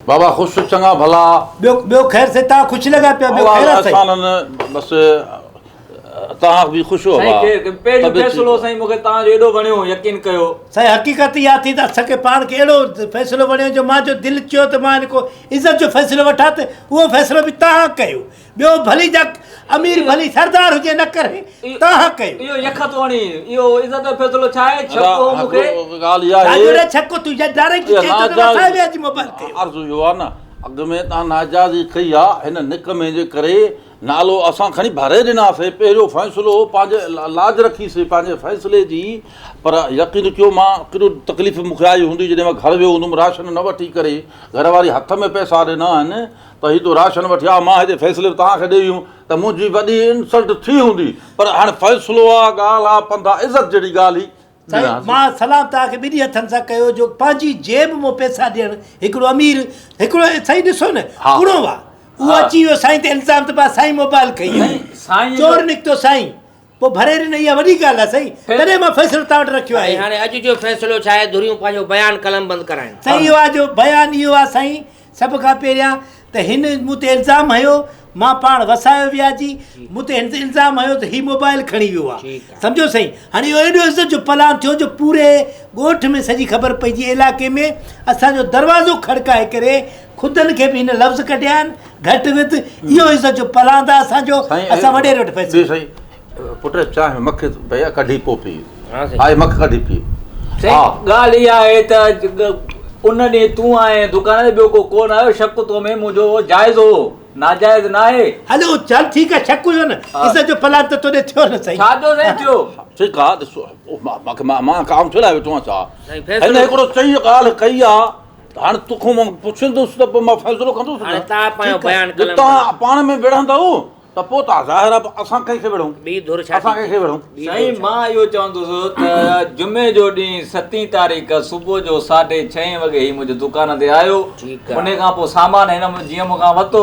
بابا خوش چڱا ڀلا. ٻيو ٻيو خير سي تان خوش لڳا پيا ٻيو خير آ سائين. احسانن بس تان به خوش هو ڀا. سائين کير پهريون فيصلو سائين مونکي تان جو ايڏو وڻيو يقين ڪيو. سائين حقيقت اها ٿي ته اسان کي پاڻ کي اهڙو فيصلو وڻيو جو مان جو دل چيو ته مان هن کان عزت جو فيصلو وٺان ته اهو فيصلو به تان ڪيو ٻيو ڀلي جڪ امير ڀلي سردار هجي نه ڪري تاها ڪيو اهو يخ توڻي اهو عزت جو فيصلو ڇا آهي ڇڪو مون کي ڳالهه اها آهي راجو ڇڪو تون جا ڊائريڪٽ چئي ٿو ته اسان به اڄ موبائل تي عرض اهو آهي نه اڳ ۾ تان ناجائزي ڪئي آهي هن نڪمي جي ڪري نالو اسان کڻي ڀري ڏناسي پهريون فيصلو پنهنجي لاج رکيسي پنهنجي فيصلي جي پر يقين ڪيو مان ڪيڏو تڪليف مون کي آئي هوندي جڏهن مان گهر ويو هوندم راشن نه وٺي ڪري گهر واري هٿ ۾ پئسا ڏنا آهن ته هي تو راشن وٺي آء مان هتي فيصلي به توهان کي ڏئي ويم ته منهنجي وڏي انسلٽ ٿي هوندي پر هاڻي فيصلو آ ڳالهه آ پنڌا عزت جهڙي ڳالهه هي سائين مان سلام توهان کي ٻنهي هٿن سان ڪيو جو پنهنجي جيب مون پيسا ڏيڻ هڪڙو امير هڪڙو سائين ڏسو نه ڪڙو آ اهو اچي ويو سائين تي الزام ته با سائين موبائل کئي آ چور نڪتو سائين پوء ڀري ڏني اها وڏي ڳالهه آهي سائين تڏهن مان فيصلو توهان وٽ رکيو آهي. هاڻي اڄ جو فيصلو ڇا آهي ڌريون پنهنجو بيان قلم بند ڪرائين. سائين اهو آهي جو بيان اهو آهي سائين سڀ کان پهريان ته هن مون تي الزام هنيو مان پاڻ وسايو وياجي مون تي هن الزام هنيو ته هي موبائل کڻي ويو آهي سمجهيو سائين هاڻي اهو ايڏو عزت جو پلان ٿيو جو پوري ڳوٺ ۾ سڄي خبر پئجي علائقي ۾ اسان جو دروازو کڙڪائي ڪري خودن کي به ان لفظ ڪڍي آهن گهٽ وڌ اهو عزت جو پلاند اسان جو اسان وڏيري وٽ پئسي جي سائين پٽ چانهه مک پيا ڪڍي پو پي آء مک ڪڍي پي سائين ڳالهه اها آهي ته ان ڏينهن تون آئين دڪان تي ٻيو ڪو ڪون آيو شڪ تو ۾ منهنجو جائز هو ناجائز نه آهي هلو چل ٺيڪ آهي شڪ هيو نه عزت جو پلاند ته توڏي ٿيو نه سائين ڇا جو سائين ٿيو ٺيڪ آهي ڏسو مان ڪام ڇو لاء ويٺو آهيان ڇا هن هڪڙو چئي ڳالهه ڪئي آهي هاڻ تو کان مان پڇندس ته پوء مان فيصلو ڪندس نه. هاڻي توهان پنهنجو بيان قلم تان. توهان پاڻ ۾ وڙهندؤ ته پوء توهان ظاهر آهي اسان ڪنهن کي وڙهون؟ ٻي ڌر ڇا اسان ٿي ڪنهن کي چئي؟ وڙهون؟ ٻي ڌر سائين ڇا؟ مان اهو چوندس ته جمعي جو ڏينهن ستين تاريخ صبح جو ساڍي ڇهين وڳي هي منهنجي دڪان تي آيو ٺيڪ آ. انهي کان پوء سامان هن جيئن مون کان ورتو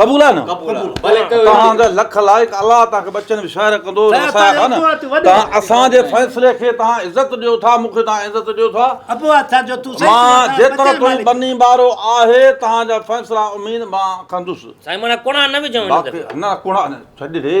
قبول آهي نه توهان جا لک لائق الله توهان کي ٻچن ۾ شاعر ڪندو توهان اسان جي فيصلي کي توهان عزت ڏيو ٿا مون کي توهان عزت ڏيو ٿا مان جيترو تو ٻني ٻارو آهي توهان جا فيصلا اميد مان ڪندس نه ڪونئا نه ڇڏ ڙي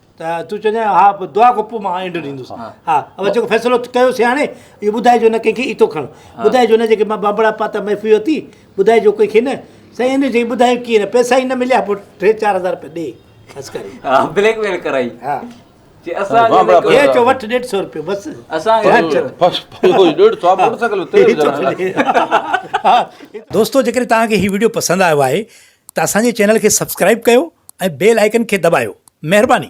ته تون چوندين ها پوء دعا ڪر پوء مان اينڊ ڏيندس ها ها جيڪو فيصلو ڪيو سي هاڻي اهو ٻڌائجو نه ڪنهن کي ايتو کڻ ٻڌائجو نه جيڪي مان بابڙا پاتا محفي وتي ٻڌائجو ڪنهن کي نه سائين ان جي ٻڌايو ڪيئن نه پيسا ئي نه مليا پوء ٽي چار هزار روپيا ڏي خرچ ڪري ها بليڪ ميل ڪرائي ها جي اسان هي چو وٺ 150 روپيو بس اسان کي بس اهو 150 ساهه موٽر سائيڪل تي دوستو جيڪڏهن توهان کي هي وڊيو پسند آيو آهي ته اسان جي چينل کي سبسڪرائب ڪيو ۽ بيل آئيڪن کي دٻايو مهرباني.